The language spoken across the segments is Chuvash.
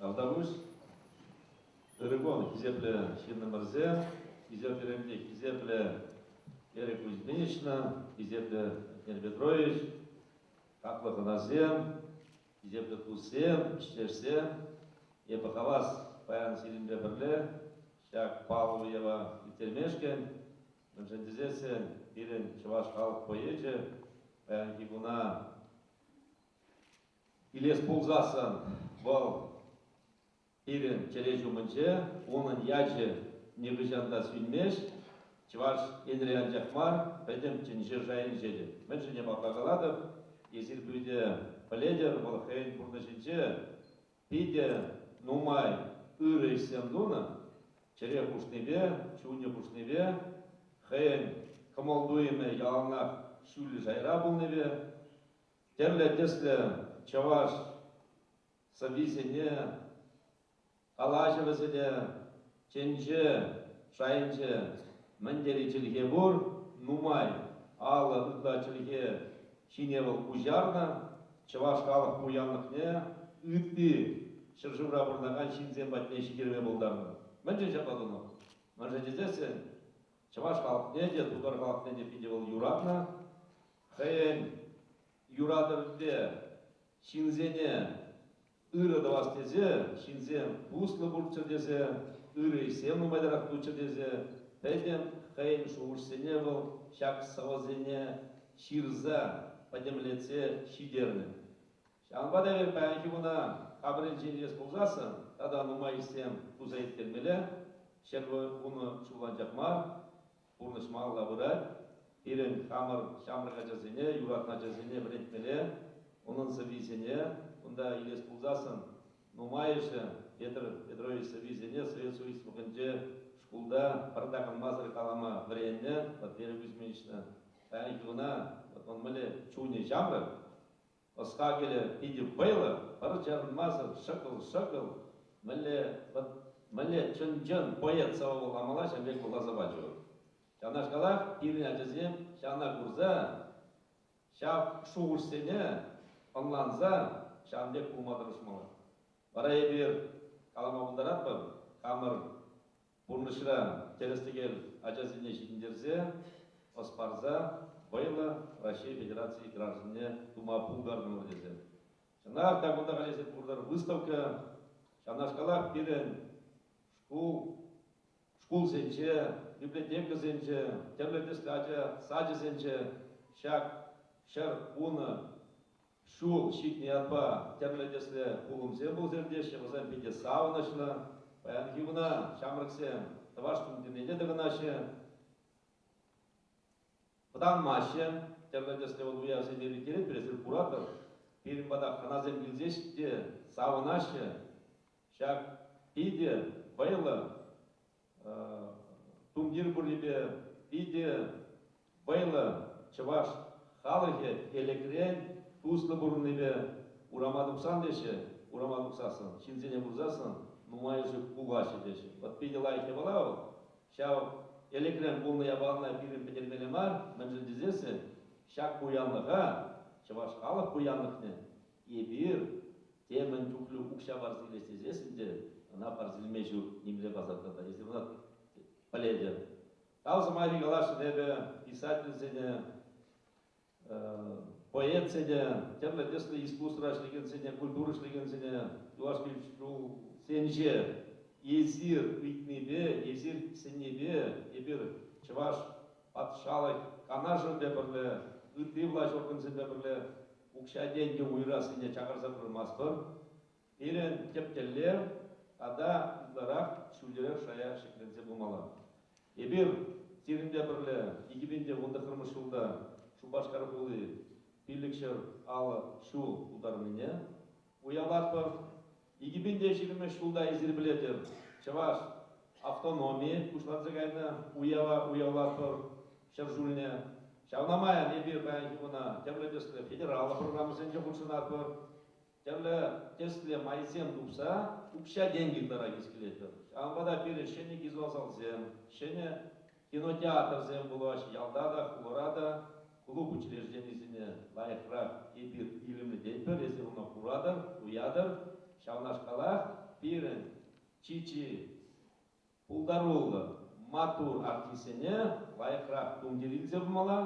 Автануш Ыргон хисеплӗ ҫыннӑмӑрсем, хисепсеремпе хисеплӗ Эрик Кузьминична, хисеплӗ Петрович, хаклӑ хӑнасем, килӗшӳллӗ тусем, ӗҫтешсем, эпӗ хавас паян сирӗнпе пӗрле ҫак паллӑ уява ирттермешкӗн, мӗншӗн тесессӗн пирӗн чӑваш халӑх поэчӗ паянхи куна илес пулсассӑн вӑл Пирӗн чӗре ҫумӗнче унӑн ячӗ нихӑҫан та сӳнмест. Чӑваш Енре анчах мар, пӗтӗмччен ҫыр шайӗнче те. Мӗншӗн ҫапах калатӑп, эсир питӗ пӗлетӗр, вӑл хӑйӗн пурнӑҫӗнче питӗ нумай ырӑ ӗҫсем тунӑ. Чӗре хушнипе, чунӗ хушнипе, хӑйӗн кӑмӑл-туйӑмӗ яланах ҫӳллӗ шайра пулнипе тӗрлӗ тӗслӗ чӑваш сӑввисене, калаҫӑвӗсене тӗнче шайӗнче мӗн тери чӗлхе пур, нумай алӑ ытла чӗлхе ҫине вӑл куҫарнӑ, чӑваш халӑх пуянлӑхне ытти ҫӗршывра пурӑнакан ҫынсем патне ҫитерме пултарнӑ. Мӗншӗн ҫапла тунӑ? Мӗншӗн тесессӗн чӑваш халӑхне те, тутар халӑхне те питӗ вӑл юратнӑ. Хӑйӗн юратӑвӗпе Ҫынсене ырӑ тӑвас тесе ҫынсем туслӑ пулччӑр тесе, ырӑ ӗҫсем нумайтарах туччӑр тесе пӗтӗм хӑйӗн шухӑшсене вӑл ҫак сӑвӑсене ҫырса, пӗтӗмлетсе ҫитернӗ. Ҫавӑнпа та эпир паянхи куна хапӑрӗнчен илес пулсассӑн тата нумай ӗҫсем туса ирттермелле, ҫӗр хунӑ ҫуллан ҫак мар, Пурнӑҫ малалла пырать. Пирӗн хамӑр ҫамрӑк ачасене, юратнӑ ачасене вӗрентмелле, унӑн сӑввисене кунта илес пулсассӑн нумайӑшӗ Петр Петрович сӑввисене Совет Союзлӑхӗнче шкулта пӗр такӑнмасӑр калама вӗреннӗ. Вот Вера Кузьминична, паянхи куна вот он мӗнле чунӗ ҫамрӑк, Ӑс-хакӑлӗ питӗ вӑйлӑ, пӗр чарӑнмасӑр ҫӑкӑл-ҫӑкӑл, мӗнле, вӑт, мӗнле чӑн-чӑн поэт сӑвӑ-вулама ҫав пек вуласа пачӗ вӑл. Ҫавнашкалах пирӗн ачасем ҫавна курса, ҫав шухӑшсене ӑнланса ҫавӑн пек пулма тӑрӑшмалла. Вара эпир калама пултаратпӑр, хамӑр Пурнӑҫра тӗрӗс-тӗкел ачасене ҫитӗнтерсе, ӑс парса вӑйлӑ Раҫҫей Федерацийӗ гражданне тума пултартӑмӑр тесе. Чӑнах та кунта калаҫса пурӑнар выставка. Ҫавнашкалах пирӗн шкул, шкулсенче, библиотекӑсенче, тӗрлӗ тӗслӗ ача сачӗсенче ҫак ҫӗр хунӑ Ҫул ҫитнӗ ятпа тӗрлӗ тӗслӗ пулӑмсем пулса иртеҫҫӗ, вӗсем питӗ савӑнӑҫлӑ. Паянхи куна ҫамрӑксем тӑваш тумтирне тӑкӑнаҫҫӗ, вӑтанмаҫҫӗ. Тӗрлӗ тӗслӗ вӑл-уявсене ирттерет, эсир куратӑр. Пирӗн пата хӑнасем килсех те савӑнаҫҫӗ. Ҫак питӗ вӑйлӑ Тумтир пуррипе питӗ вӑйлӑ чӑваш халӑхӗ Элӗкрен туслӑ пурӑннипе урама тухсан теҫҫӗ, урама тухсассӑн, ҫынсене курсассӑн нумайӑшӗ пулаҫҫӗ теҫҫӗ. Вӑт питӗ лайӑх япала вӑл. Ҫав Элӗкрен пулнӑ япалана пирӗн пӗтермелле мар, мӗншӗн тесессӗн ҫак пуянлӑха, чӑваш халӑх пуянлӑхне Эпир те мӗн чухлӗ укҫа парса илес тесес ӗнтӗ, ӑна парса илме ҫук, нимле посадка та, если вӑна пӗлетӗр. Тав сӑмахӗ каласшӑн эпӗ, писательсене, поэтсене, тӗрлӗ тӗслӗ искусство ӗҫлекенсене, культура ӗҫлекенсене, юлашки ҫулсенче эсир ыйтнипе, эсир сӗннипе эпир Чӑваш патшалӑх Канашӗпе пӗрле, ытти влаҫ органсемпе пӗрле укҫа-тенкӗ уйӑрассине чакарса пырмастӑн. Пирӗн тӗп тӗллев тата ытларах ҫӳлерех шая ҫӗкленсе пымалла. Эпир сирӗнпе пӗрле икӗ пин те вун тӑххӑрмӗш ҫулта Шупашкар хули пиллӗкҫӗр алӑ ҫул тултарнине уявлатпӑр. Икӗпен те ҫирӗммӗш ҫулта эсир пӗлетӗр, чӑваш автономийӗ пуҫланса кайнӑ. Уява уявлатпӑр ҫӗр ҫулне. Ҫавна май эпир паянхи куна тӗрлӗ тӗслӗ федераллӑ программӑсенче хутшӑнатпӑр. Тӗрлӗ тӗслӗ майсем тупса укҫа-тенкӗ ытларах ӳс килетпӗр. Ҫавӑнпа та пирӗн ҫӗнӗ кизласалсем, ҫӗнӗ Кинотеатрсем пулаҫ ялта та, хулара та клуб учрежденисене лайӑхрах эпир илемлететпӗр, эсир ӑна куратӑр, туятӑр. Ҫавнашкалах пирӗн чи-чи пултаруллӑ, маттур артистсене лайӑхрах тумтир илсе пымалла.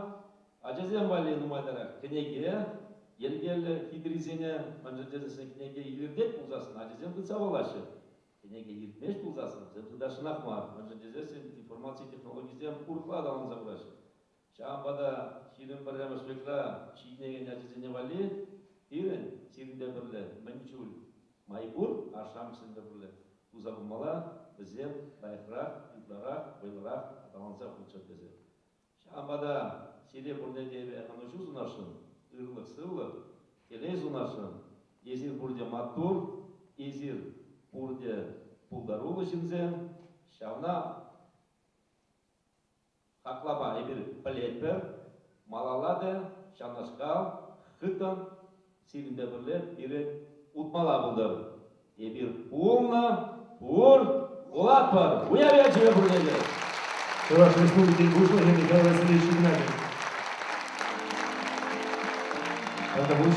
Ачасем валли нумайтарах кӗнеке, йӗркеллӗ хитрисене мӗншӗн тесен кӗнеке илӗртет пулсассӑн ачасем тытса паллаҫҫӗ. Кӗнеке илтмест пулсан сӑнсем тытасшӑнах мар, мӗншӗн тесессӗн информаци технологийӗсем урӑхла аталанса пыраҫҫӗ. Ҫавӑнпа та ҫирӗм пӗрремӗш векра ҫитӗнекен ачасене валли пирӗн, сирӗнпе пӗрле, мӗн чуль май пур, ашшӗ-амӑшсемпе пӗрле туса пымалла, вӗсем лайӑхрах, ытларах, вӑйлӑрах аталанса пыччӑр тесе Ҫавӑнпа та сире пурне те эпӗ ӑнӑҫу сунасшӑн, ырлӑх-сывлӑх, телей сунасшӑн. Эсир пурте маттур, эсир пурте пултаруллӑ ҫынсем. Ҫавна хаклама эпир пӗлетпӗр. Малалла та ҫавнашкал хыттӑн Сирӗн те пӗрле пире утмалла пултӑр. Эпир пулнӑ, пур, пулатпӑр! Уяв ячӗпе пурне те! Чӑваш Республикин Пуҫлӑхӗ Михаил Васильевич Игнатьев. Тантӑпуҫ.